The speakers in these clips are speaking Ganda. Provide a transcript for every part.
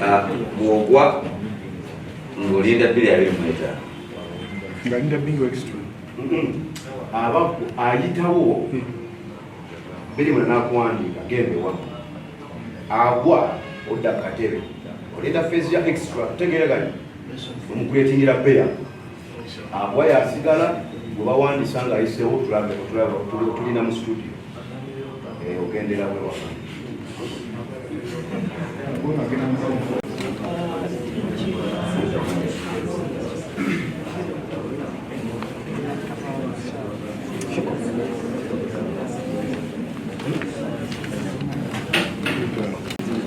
Ah, mwogwa ng'olinda bbiri abiri mu etaano ngalinda bingo extra aba ayitawo hmm. biri muna nakuwandiika genda ewamu agwa odda katebe olinda feesi ya extra tegeera gani omukuletingira beya Abwa yasigala gwe bawandisa nga ayiseewo tulabe otulaba otulina mu studio eh, ogendera wewa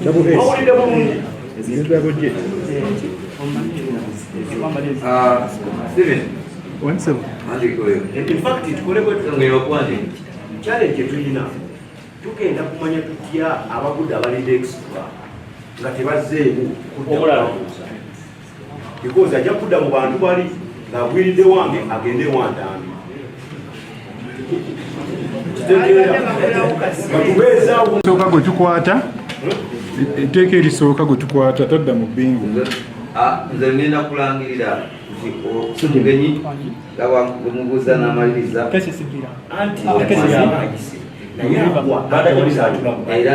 Double hits. challenge tulina tugenda kumanya tutya abagudde abalidde extra nga tebazzeemu kudda because ajja kudda mu bantu bali ng'agwiridde wange agende ewantambi kitegeerakyoka gwe tukwata etteeka erisooka gwe tukwata tadda mu bingu nze ah, ngenda kulangirira nti omugenyi gawamubuuza n'amaliriza anti era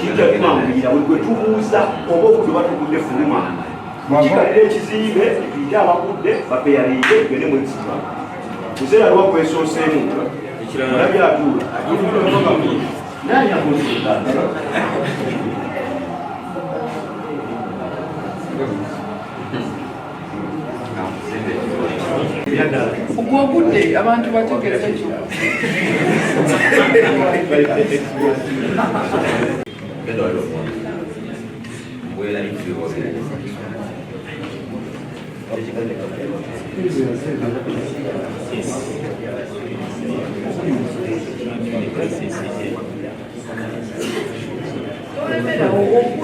kijja kumanguyira buli gwe tubuuza oba okudu batugudde fuluma kikalira ekizimbe tuyite abagudde bapeyalire gende mwekisiba kuseera lwa kwesooseemu olabye atuula naye amuzinga ogwogudde abantu bategeeza ekyo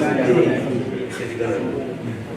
Thank you.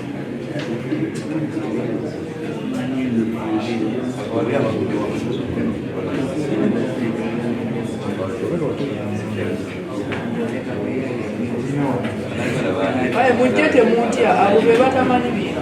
Kale mujje temuntya abo be batamanyi bintu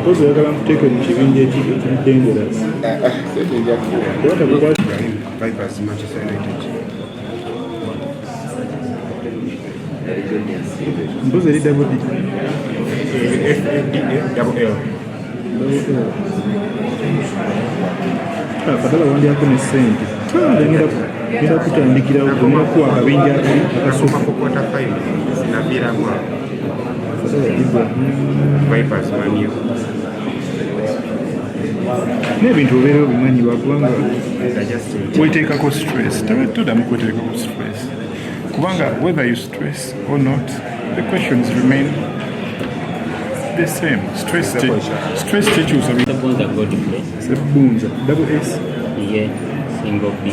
mpozi oyagala nkuteeke mu kibinja ekibi ekibidengerasi mpozi eri dabudi kadala wandyako ne sente ngenda kutandikirawo kunakuwa akabinja akali akasooka Vipers Man U. n'ebintu obeera obimanyi lwakubanga weteekako stress todamu kweteekako stress kubanga whether you stress or not the questions remain the same stress stress tekyusa sebunza double s ye single b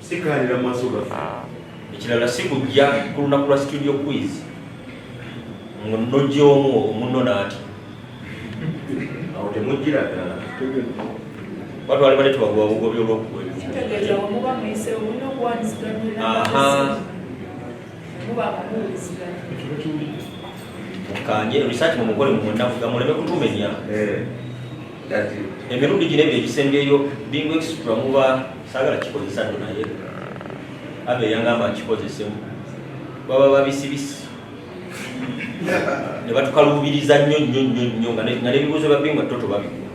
sikaanira mu maaso gaffe ekirala si kujja ku lunaku lwa studio quiz nojja omu omunno naati awo temujjira ddala batwali bale tubagoba bugobi olwokuwemukanye research mumukole mumundafuga muleme kutumenya eh. emirundi gino ebyo egisembyeyo bingu extra muba sagala kikozesa nno naye abe yangamba nkikozesemu baba babisibisi ne batukaluubiriza nnyo nnyo nnyo nnyo nga n'ebibuuzo bya bingu atto tobabikula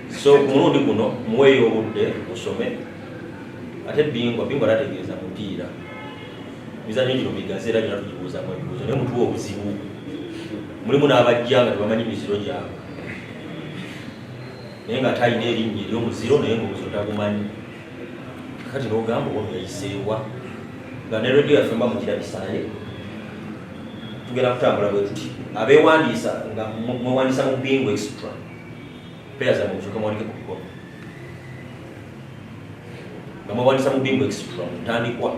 so ku mulundi guno muweeyo obudde musome ate bingwa bingwa tategeeza mupiira mizanyo gino migazi era gyona tugibuuzamu ebibuuzo naye mutuwa obuzibu mulimu n'abajja nga tebamanyi miziro gyabwe naye nga atalina erinnya eryomuziro naye ngaomuzo tagumanyi kati nogamba ono yayiseewa nga ne radio yaffe mba mukirabisaaye tugenda kutambula bwe tuti abeewandiisa nga mwewandiisa mu bingu extra peya zamwe musoke mwandike ku bikono nga mwewandiisa mu bingu extra mutandikwa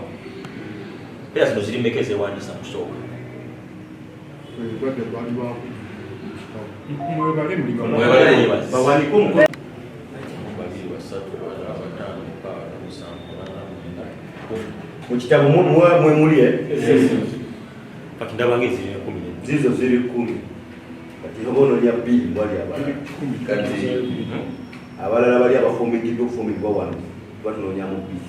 peya zino ziri meka ezewandiisa kusooka mukitabo mwemuli eh? kati ndabanga eziri ekumi zizo ziri kumi kati oba ononya bbiri wali abalala bali abafumbididde okufumbidwa wano batunonyamu bbiri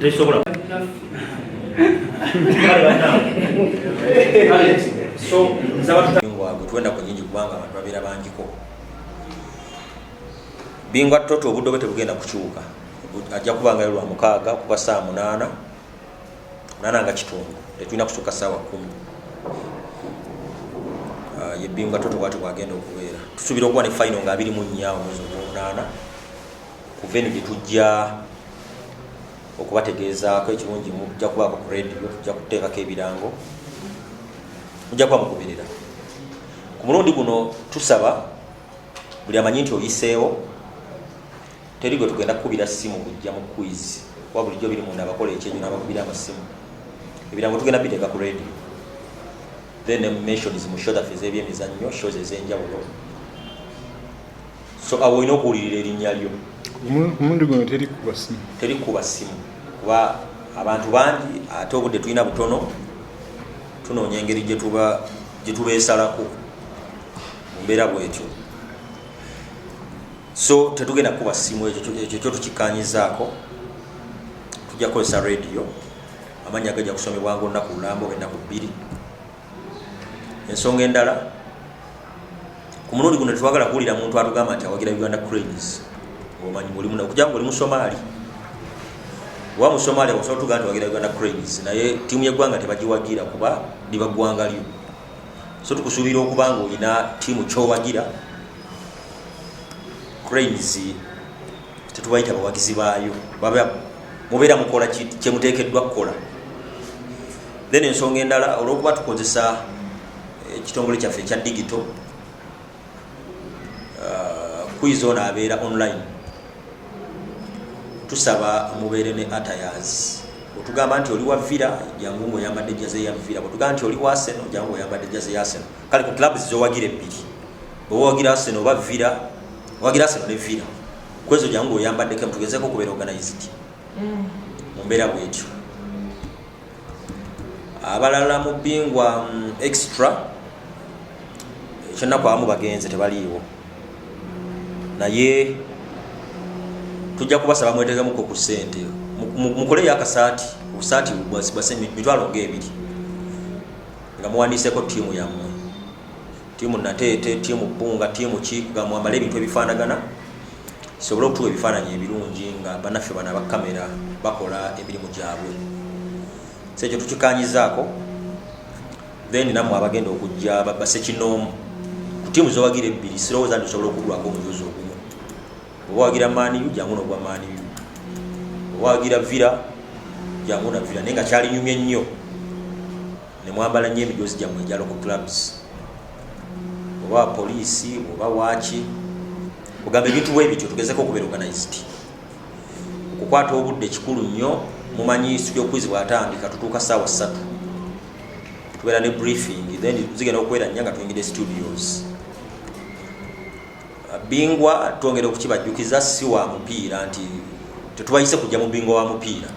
tesobola wabwe tuwenda ku nyingi kubanga abantu babeera bangiko bingwa toto obudde obwe tebugenda kukyuka ajja kubangayo lwa mukaaga kuba saa munaana munaana nga kitundu tetulina kusuka saawa kumi ah, yebingwa toto bwati bwagenda okubeera tusuubira okuba ne fayino nga abiri mu nnya omwezi ogwomunaana kuva eno gye tujja okubategeezaako ekirungi mujja kubaako ku radio tujja kuteekako ebirango mujja kuba mugoberera ku mulundi guno tusaba buli amanyi nti oyiseewo teri gwe tugenda kukubira simu kujja mu quiz kuba bulijjo biri munda abakola ekyenyo nabakubira amasimu ebirango tugenda biteeka ku radio then mentions mu shodafe z'ebyemizannyo shows ez'enjawulo so awo olina okuwulirira erinnya lyo omulundi guno teri kuba simu teri kuba simu kuba abantu bangi ate obudde tulina butono tunoonya engeri gyetubeesalako mu mbeera bwetyo so tetugenda kukuba simu ekyo kyo tukikkanyizaako tujja kukozesa rediyo amannya gajja kusomebwa nga olunaku lulambo ennaku bbiri ensonga endala ku mulundi guno tetwagala kuwulira muntu atugamba nti awagira uganda cranes omanyi mulimuna okuja nga oli musomaali wa musomaali osobola tugaa nti wagira uganda cranes naye tiimu yeggwanga tebagiwagira kuba liba ggwanga lyo so tukusuubira okuba nga olina tiimu kyowagira cranes tetubayita bawagizi baayo baba mubeera mukola kyemuteekeddwa kukola then ensonga endala olwokuba tukozesa eh, ekitongole kyaffe ekya digito ah, kwiza ono abeera online tusaba mubeere ne atayaz otugamba nti oli wa vira jangu ngaoyambadde jaze ya vira bwetugamba nti oli wa seno jangu oyambadde jaze ya seno kale ku clubs zowagira ebbiri owawagira aseno oba vira owagira aseno ne vira kwezo jangu oyambaddeko mutugezeko okubeera organized mm. mu mbeera bwetyo abalala mu bingwa mm, extra ekyennaku abamu bagenze tebaliiwo naye tujja kubasaba mwetegemuko ku sente mukoleyo akasaati obusaati bwase mitwalo ngaebiri nga muwandiiseko tiimu yammwe tiimu nateete tiimu bbunga tiimu ki kugamba wambale ebintu ebifaanagana kisobole okutuwa ebifaananyi ebirungi nga banaffe bano abakamera bakola emirimu gyabwe so ekyo tukikanyizaako then namwe abagenda okujja basekinoomu ku tiimu zowagira ebbiri sirowooza nti osobola okugulwako omujuzi ogumu oba wagira maaniyu jangu nogwa maaniyu oba wagira vira jangu na vira naye nga kyalinyumye nnyo nemwambala nyo emijozi gyamwe egya local clubs oba poliisi oba waaki ogamba ebintu bwebityo tugezeko okubeera organized okukwata obudde kikulu nnyo mumanyi studio quiz bwatandika tutuuka saawa ssatu tubeera ne briefing then zigenda okubeera nnya nga tuyingide studios bingwa twongera okukibajjukiza si wa mupiira nti tetubayise kujja mu bingwa wa mupiira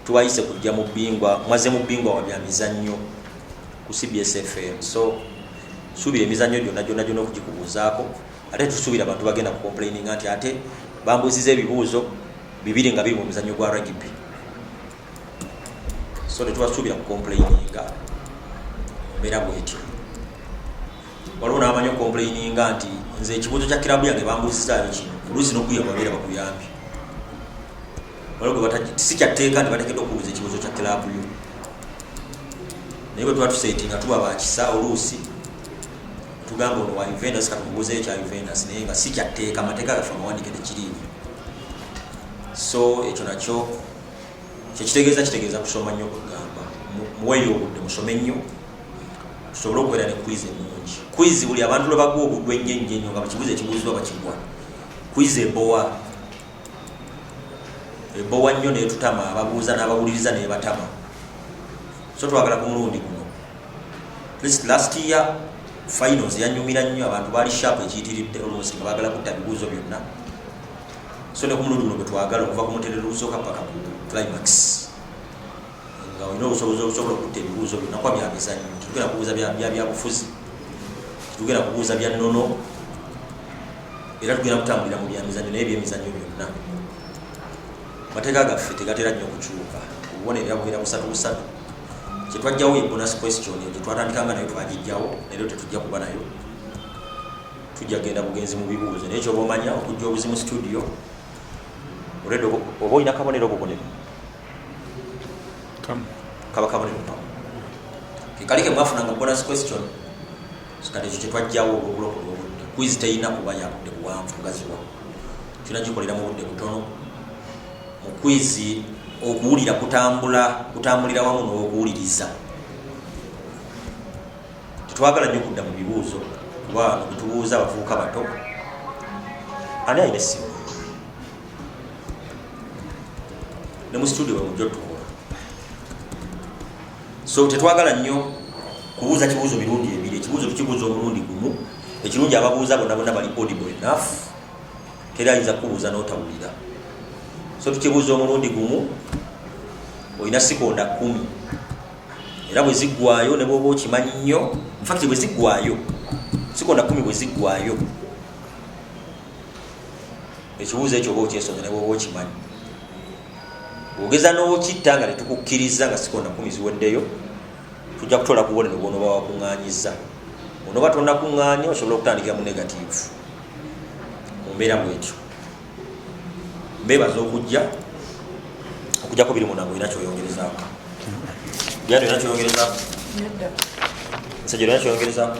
tubayise kujja mu bingwa mwaze mu bingwa wa bya mizannyo ku cbs fm so suubira emizannyo gyonna gyonna gyonna okugikubuuzaako ate tusuubira abantu bagenda ku complaininga nti ate bambuuziza ebibuuzo bibiri nga biri mu muzannyo gwa ragibi so tetubasuubira ku complaininga mbeera bwetyo waliwo nabamanyi okomplaininga nti nze ekibuuzo kya kirabu yange bambuuzizaayo kino oluusi nokuyababeera bakuyambye si kyatteeka nti bateekeddwa okuwuliza ekibuuzo kya kilaabu yo naye bwe tuba tuseeti nga tuba bakisa oluusi tugamba ono wa uventus katumubuuzeyo kya uventus naye nga si kyatteeka amateeka gaffe amawandike tekiriimu so ekyo nakyo kyekitegeeza kitegeeza kusoma nnyo kugamba muweyo obudde musome nnyo tusobole okubeera ne kwizi emungi kwizi buli abantu lwe baguwa obuddu ennyo ennyo ennyo nga bakibuuza ekibuuzibwa bakigwa kwizi ebowa ebowa nnyo netutama ababuuza n'abawuliriza nebatama so twagala ku mulundi guno least last year finals yanyumira nnyo abantu baali sharp ekiyitiridde olwosi nga bagala kutta bibuuzo byonna so ne ku mulundi guno bwetwagala okuva ku mutendero ogusooka paka ku climax nga olina obusobozi obusobola okutta ebibuuzo binakuba bya mizannyo tetugenda kubuuza byabufuzi tetugenda kubuuza bya nnono era tugenda kutambulira mu byamizannyo naye byemizannyo byonna amateeka gaffe tegatera nnyo okukyuka obubonero yabubeera busatu busatu kyetwajjawo ye bonus question eyo gyetwatandikanga nayo twagijjawo naero tetujja kuba nayo tujja genda bugenzi mu bibuuzo naye kyoba omanya okujja obuzimu studio oba olina kabonero obubonero kaba kabonero kamu kekali kemwafunanga bonus question kati ekyo kyetwajjawo olwobulokola obudde kwizi teyina kuba yabudde buwanvu gaziwa kyona kikolera mu budde butono mu kwizi okuwulira kutambula kutambulira wamu n'okuwuliriza tetwagala nyo okudda mu bibuuzo kuba netubuuza abavubuka bato ani ayina essimu ne mu situdio bamujja otukola so tetwagala nnyo kubuuza kibuuzo mirundi ebiri ekibuuzo tukibuuza omulundi gumu ekirungi ababuuza bona bona bali audible enough teri ayinza kubuuza notawulira so tukibuuza omulundi gumu olina sikonda kumi era bwe ziggwayo ne bwoba okimanyi nnyo infakti bwe ziggwayo sikonda kumi bwe ziggwayo ekibuuzo ekyo oba okyesonga ne bwoba okimanyi ogeza n'okitta nga tetukukkiriza nga sikonda kumi ziweddeyo tujja kutoola kubonero bwonoba wakuŋŋanyiza onoba tonakuŋŋanya osobola okutandikira mu negatiivu mu mbeera bwetyo mbeebaza okujja okujjako biri munange olina kyoyongerezaako yandi olina kyoyongerezaako nsajja olina kyoyongerezaako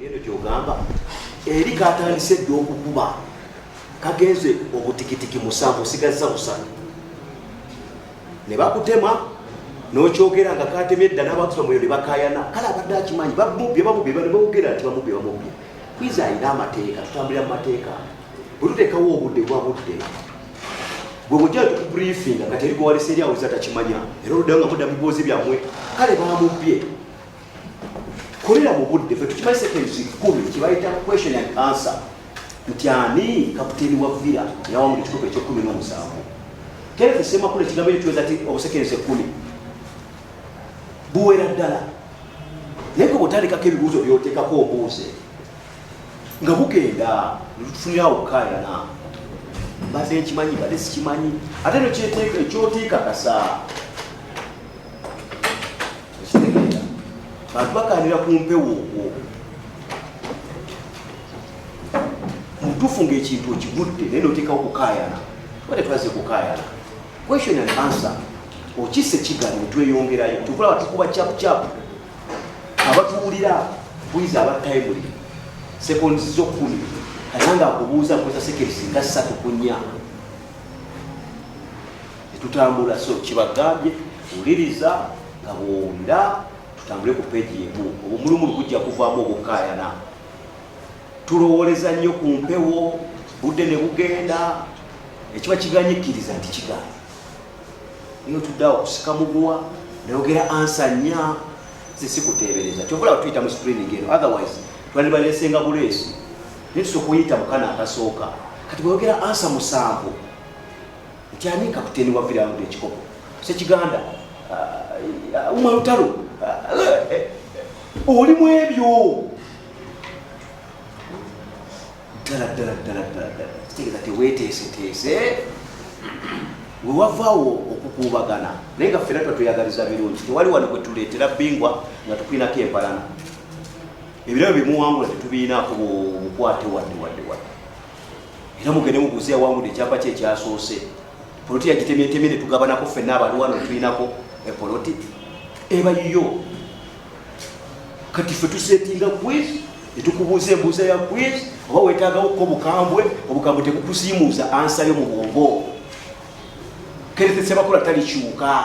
eno gyogamba eri katandise dda okukuba kagenze obutikitiki musanvu osigazza busanu ne bakutema nokyogera nga katemye dda n'abatusa muyo ne bakayana kale abadde akimanyi bamubye bamubye bane bawogera nti bamubye bamubye kwiza alina amateeka tutambulira mu mateeka bwe tuteekawo obudde bwa budde gwe bujja tukubriefinga kati eri gwewalesa eri awuliza takimanya era oluddayo nga mudda mu bibuuzi byammwe kale bamubye kolera mu budde fe tukimanyi seconds kumi kyebayita question and answer nti ani kaputeni wa villa yawa mu kikopo ekyokumi n'omusanvu kenneth semakula ekigambo ekyo kiweza ti obusekensi ekkumi buwera ddala naye gwe bwotandikako ebibuuzo byoteekako obuuze nga bugenda lutufunirawo okukayana mbadde nkimanyi mbadde sikimanyi ate nekyoteekakasa okitegeera bantu baganira ku mpewo okwo mutuufu ngaekintu okigudde naye noteekawo kukaayana tuba tetwaze kukaayana question and answer okisa ekigali netweyongerayo tukulaba tukuba chapuchapu abatuwulira bwiza abattaimuli sekondi zokumi kata nga akubuuza nkozesa sekerisi nga ssatu kunya tetutambula so kibagambye wuliriza nga bwowulira tutambule ku peegi emu obumulumulu bujja kuvaamu obukaayana tulowooleza nnyo ku mpewo budde ne bugenda ekiba kiganyikkiriza nti kigaana naye otuddeawo okusika muguwa nayogera ansa nnya ze sikuteebereza kyovulaba tuyita mu screening eno otherwise twandibaleesenga buleesi naye tusa okuyita mu kana akasooka kati bweyogera ansa musanvu nti ani kapiteeni wa virawo ekikopo sekiganda uh, umar lutalo uh, eh, oli mu ebyo ddala ddala ddala ddala ddala kitegeeza teweteeseteese wewavaawo okukuubagana naye nga ffena tuba tweyagaliza birungi tewali wano kwetuleetera bingwa nga tukulinako empalana ebirabo bimuwangula tetubiinaako bukwate wadde wadde wadde era mugende mubuuze yawangudde ekyapa kye ekyasoose poloti yagitemyetemye ne tugabanako ffenna abaliwano tulinako epoloti eba yiyo kati ffe tusetinga quiz ne tukubuuza embuuza ya quiz oba weetaagawo ko obukambwe obukambwe tebukusiimuuza ansayo mu bwongo keretesebakola talikyuka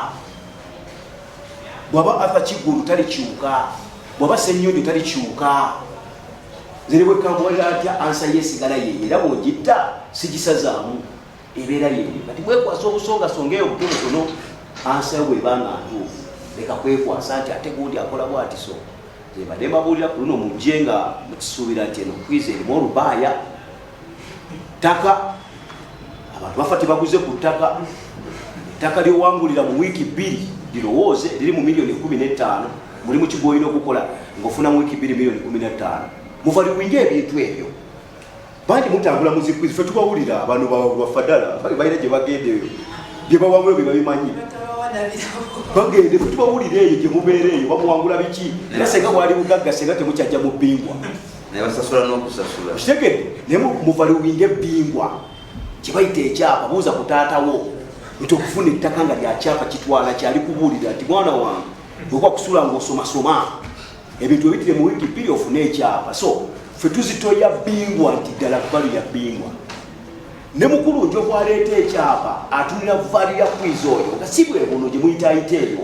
bwaba atha kigulu talikyuka bwaba senyonjo talikyuka ziri bwekamuwalira atya ansa yesigala ye era bwogitta sigisazaamu ebeera yeyo kati bwekwasa obusongasonga eyo butonotono ansa yo bwebanga ntuufu leka kwekwasa nti ate gundi akola bwatiso zebadde mbabuulira ku luno mujje nga mukisuubira nti eno kwiza erimu olubaaya ttaka abantu bafa tebaguze ku ttaka ettaka lyowangulira mu wiiki bbiri lirowooze liri mu miliyoni kumi n'ettaano mulimu ki gwolina okukola ngaofuna mu wiiki bbiri miliyoni kumi n'ettaano muvaliwinga ebintu ebyo bangi mutambula muzikwizi fe tubawulira abantu bafadala balina gye bagenda eyo bye bawangula bye babimanyi bagende fe tubawulira eyo gye mubeera eyo bamuwangula biki era senga bwali bugagga senga temukyajja mu bbingwa naye basasula n'okusasula kitegedde naye muvaliwinga ebbingwa kyebayita ekyapa buuza ku taatawo nti okufuna ettaka nga lyakyapa kitwala kyali kubuulira nti mwana wange bwekuba kusula ngaosomasoma ebintu ebitire mu wiiki bbiri ofune ekyapa so fe tuzitoya bbingwa nti ddala valu ya bbingwa ne mukulu njokwaleeta ekyapa atunira valu ya kwiza oyo nga si bwebuno gye muyitaayita eyo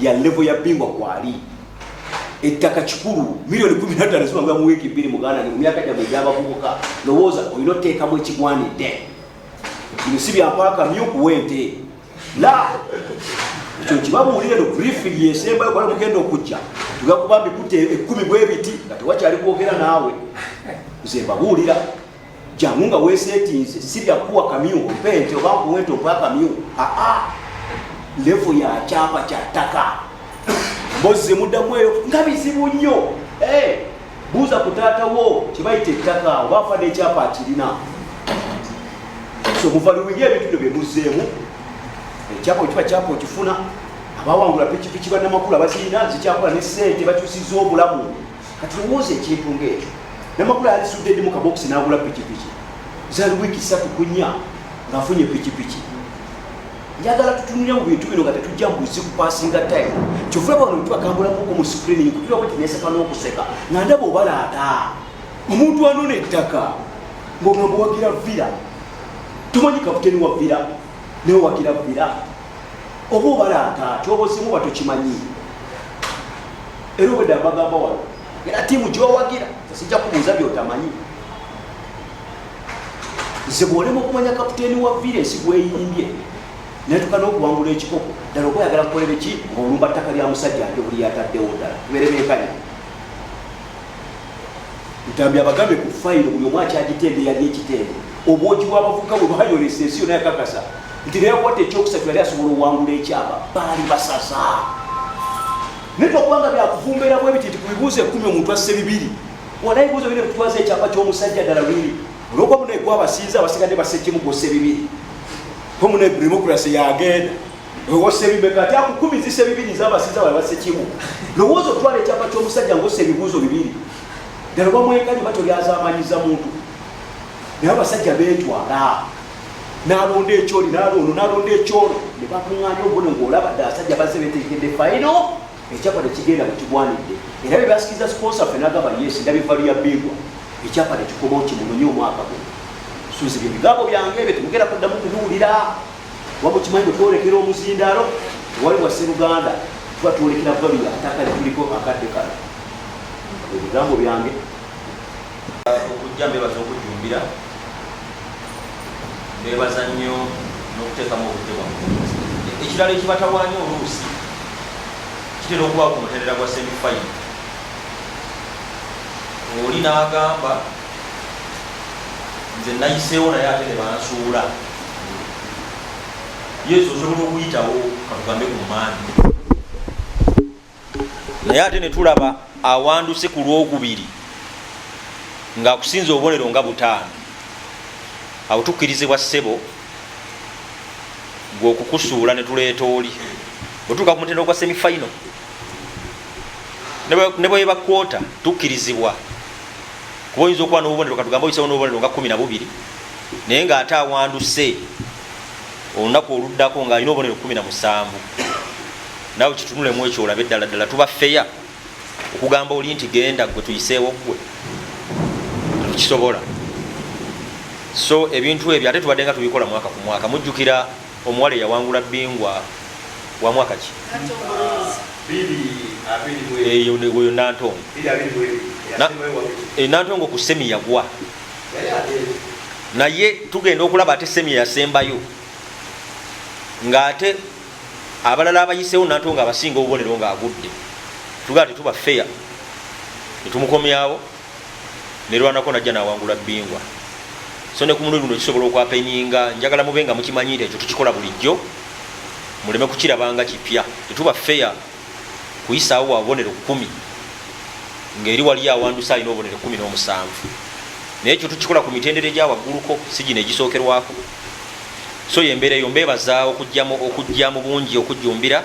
ya levo ya bingwa kwali ettaka kikulu milioni kumi natano zibanga mu wiiki bbiri muganda mu myaka gyamwe egyabavubuka lowooza olina oteekamu ekigwanidde bino si byakwaka myukuwa ente la ekyo kibabuulire no brifing yesembayo kola mugenda okujja tugakuba mbikute ekkumi bwebiti nga tewakyali kwogera naawe nze mbabuulira jangu nga wesetinze sibya kuwa kamyu mpente oba nkuwente okuwa kamyu aa levo ya kyapa kya ttaka bozze muddamu eyo nga bizibu nnyo eh, buuza ku taata wo kyebayita ettaka oba afa n'ekyapa akirina so muvaluwinyo ebintu byo byemuzzeemu ekyapa eh, okiba kyapa okifuna abawangula pikipiki banamakulu abazirina zikyakola ne sente bakyusiza obulamu kati lowooza ekintu ngaekyo namakulu alisudde ddi mu kabokisi n'agula pikipiki zali wiiki ssatu ku nnya ng'afunye pikipiki njagala tutunire mu bintu bino nga tetujja mu buzibu pasinga time kyova bano tubakambulamuko mu sikrini kutula bwe tineseka n'okuseka nga ndaba obalaata omuntu anona ettaka ng'ogamba wagira vira tomanyi kaputeni wa vira naye wagira vira oba obalaata kyobozimu oba tokimanyi era obwedde abagamba wano era tiimu gyowagira sijja kubuuza byotamanyi nze bwolema okumanya kaputeeni wa vire ensi gweyimbye netuka n'okuwangula ekikopo ddala oba oyagala kukolere ki ng'olumba ttaka lya musajja ate buli yataddewo ddala berebenkanya ntambi abagambe ku fayiro buli omu akyagitende yali ekitende obwogi bw'abavubuka bwe bwayolesa ensi yona yakakasa nti neyakwata ekyokusatu yali asobola owangula ekyama baali basasa naye twakubanga byakuvumbeera bwe biti nti ku bibuuzo ekkumi omuntu asse bibiri wona ebibuuzo biri kutwaza ekyapa ky'omusajja ddala lwiri olwokuba munaye gwabasinza abasigadde basse kimu gwosse bibiri ko munaye democracy yagenda ewosebibeka ati akukumizisa ebibiri zabasinza bali basse kimu lowooza otwala ekyapa ky'omusajja ngaossa ebibuuzo bibiri ddala obamwekanyi batolyazamanyiza muntu naye abasajja betwala nalonda ekyoli naloono nalonda ekyolo ne bakuŋŋaanya obuno ng'olaba dda abasajja bazze betekedde fayino ekyapa tekigenda bwekigwanidde era bye basikiza siponsa ffe nagamba yes ndaba evvalu ya bingwa ekyapa tekikoba okimunonye omwaka guno suzi bye bigambo byange ebyo temugenda kuddamu kubiwulira waba okimanyi bwe twolekera omuzindaalo ewali wa sseruganda tuba twolekera valu ya ataka lituliko akadde kano ebigambo byange okujja mbebaza okujjumbira mbebaza nnyo n'okuteekamu obudde bwamu ekirala ekibatawaanya oluusi kitera okuba ku mutendera gwa semifayi oli n'agamba nze nayiseewo naye ate ne bansuula yesu osobola okuyitawo katugambe ku maani naye ate netulaba awanduse ku lwokubiri ngaakusinza obubonero nga butaano awo tukkirizibwa ssebo gweokukusuula netuleeta oli otuuka ku mutendo ogwa semifaino ne bweba kwota tukkirizibwa kuba oyinza okuba nobubonero katugambe oyisawo nobubonero nga kumi na bubiri naye ngaate awanduse olunaku oluddako ng'alina obubonero kumi na musanvu nawe kitunulemu ekyo olabe ddala ddala tuba feya okugamba oli nti genda gwe tuyiseewo ggwe tukisobola so ebintu ebyo ate tubadde nga tubikola mwaka ku mwaka mujjukira omuwala eyawangula bingwa wa mwaka ki eyo nantongo enantongo ku semi yagwa naye tugenda okulaba ate semi yasembayo nga ate abalala abayisewo nato nga abasinga obubonero nga agudde tugaa tetuba feya netumukomyawo nerwanako najja nawangula bingwa so ne kumulundi guno kisobola okwapeninga njagala mube nga mukimanyi nti ekyo tukikola bulijjo muleme kukirabanga kipya tetuba feya kuyisaawo wa bubonero kumi ngaeri waliyo awandusa alina obubonero kumi n'omusanvu naye ekyo tukikola ku mitendera egyawagguluko si gino egisookerwako so yo embeera eyo mbeebaza okujja mu bungi okujjumbira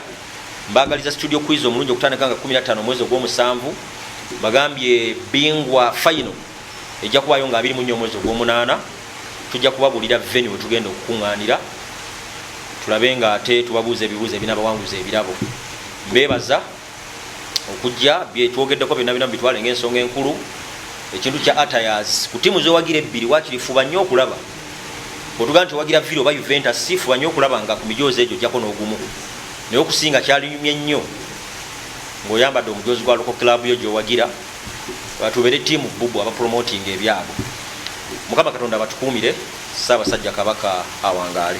mbagaliza studio quiz omulungi okutandika nga 15 omwezi ogw'omusanvu bagambye bingwa fayino ejja kubaayo nga abiri mu nnya omwezi ogw'omunaana tujja kubabuulira veni we tugenda okukuŋŋaanira tulabe nga ate tubabuuza ebibuuzo ebinabawanguza ebirabo mbeebaza okujja byetwogeddeko byonna binamu bitwale ngaensonga enkulu ekintu kya atayas ku tiimu zowagira ebbiri wakiri fuba nnyo okulaba otugaa nti owagira viri oba uventus si fuba nnyo okulaba nga ku mijoozi egyo ojjako n'ogumu naye okusinga kyalinyumye nnyo ngaoyambadde omujoozi gwa loko club yo gyowagira batubere tiimu bubu abapromotinga ebyabo mukama katonda abatukuumire saabasajja kabaka awangaale